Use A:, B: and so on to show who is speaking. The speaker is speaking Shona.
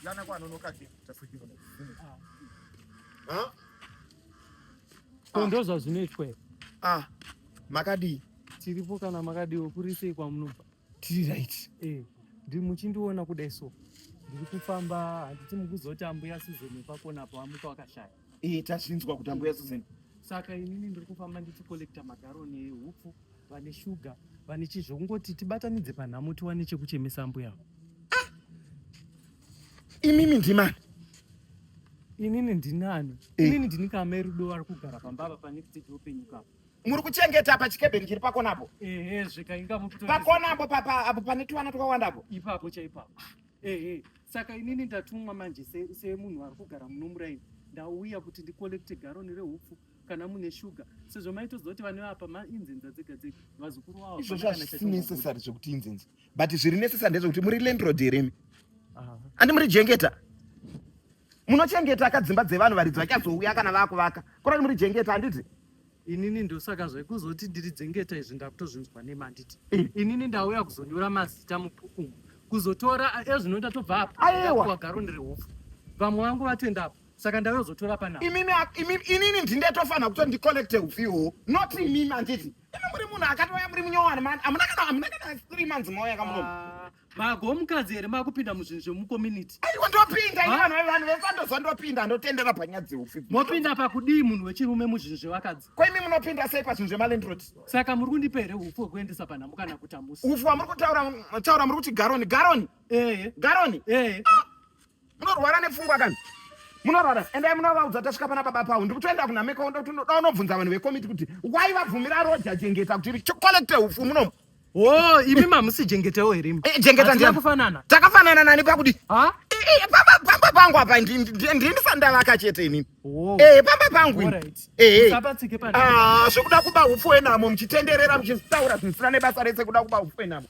A: Yana kwa nonoka kitu tafujiwa.
B: Ah.
A: Ah. Ndoza zvinechwe. Ah.
B: Makadi. Tiripo
A: kana makadi okurisei kwamunobva. tiri right
B: eh ndiri
A: muchindiona kudai so ndiri kufamba handiti mukuzoti ambuya Susan pakona apo amuka wakashaya eh tazvinzwa kuti
B: ambuya Susan saka inini ndiri
A: kufamba ndichi collecta magaro nehupfu vane shuga vane chii zvekungoti tibatanidze panhamo tiwane chekuchemesa ambuya ah!
B: imimi ndimani
A: inini ndinani eh. inini ndini kama erudo ari kugara pambava pane kuti tiupenyukapo muri kuchengeta
B: pachikebheni chiri pakonapo
A: pakonapo papa
B: apo pane tuvana twakawandapo ipapo chaipapo
A: ehe saka inini ndatumwa manje semunhu se ari kugara muno muraini ndauya kuti ndikolekte garoni rehupfu kana mune shuga sezvo maitoziva kuti vane vapa mainzenza dzega dzega vazukuru vavo izvozvo hazvisi necessary
B: zvekuti inzenza but zviri nesesa ndezvekuti muri landlord here imi andi muri jengeta munochengeta ka dzimba dzevanhu varidzi vachazouya kana vakuvaka kurati muri jengeta handiti inini ndosaka
A: zvekuzoti ndiri dzengeta izvi ndakutozvinzwa nemi handiti inini ndauya kuzonyora mazita mubhukumu kuzotora ezvino ndatobva apa aiwa garo ndiri hupfu vamwe vangu vatoenda apa saka ndakazotora pana imimi imimi inini
B: ndindetofanira kuti ndicollect ufiwo not imimi anditi imi muri munhu akatouya muri munyowani mani amuna kana amuna kana three months mauya kamuno ah, mago mukadzi here
A: makupinda muzvinhu zvemucommunity aiwa ndopinda ini
B: vanhu vanhu vesandoza ndopinda ndotendera panyaya dzeufi mopinda pakudii
A: munhu wechirume muzvinhu zvevakadzi ko imi munopinda sei
B: pazvinhu zvemalandrod saka muri kundipa
A: here ufu hwekuendesa panhamu kana kutamusa ufu wamuri kutaura
B: taura muri kuti garoni garoni ehe garoni ehe ah! Munorwara nepfungwa kani? munorwara endai munovaudza tasvika pana baba pavo ndikutoenda kunameka ndoda unobvunza vanhu vekomiti kuti wai vabvumira roja jengeta kuti chokolekte ufu munomu Oh, imi
A: mamusi jengetewo here imi? Eh, jengeta ndiye kufanana.
B: Takafanana
A: nani pakudi?
B: Ha? Eh, eh pamba pamba pangu apa ndi ndi ndisandavaka chete ini. Oh. Eh, pamba pangu. All right. Eh. Sabatsike eh. pana. Ah, zvekuda kuba upfu enamo mchitenderera mchitaura zvisina nebasa rese kuda kuba upfu enamo.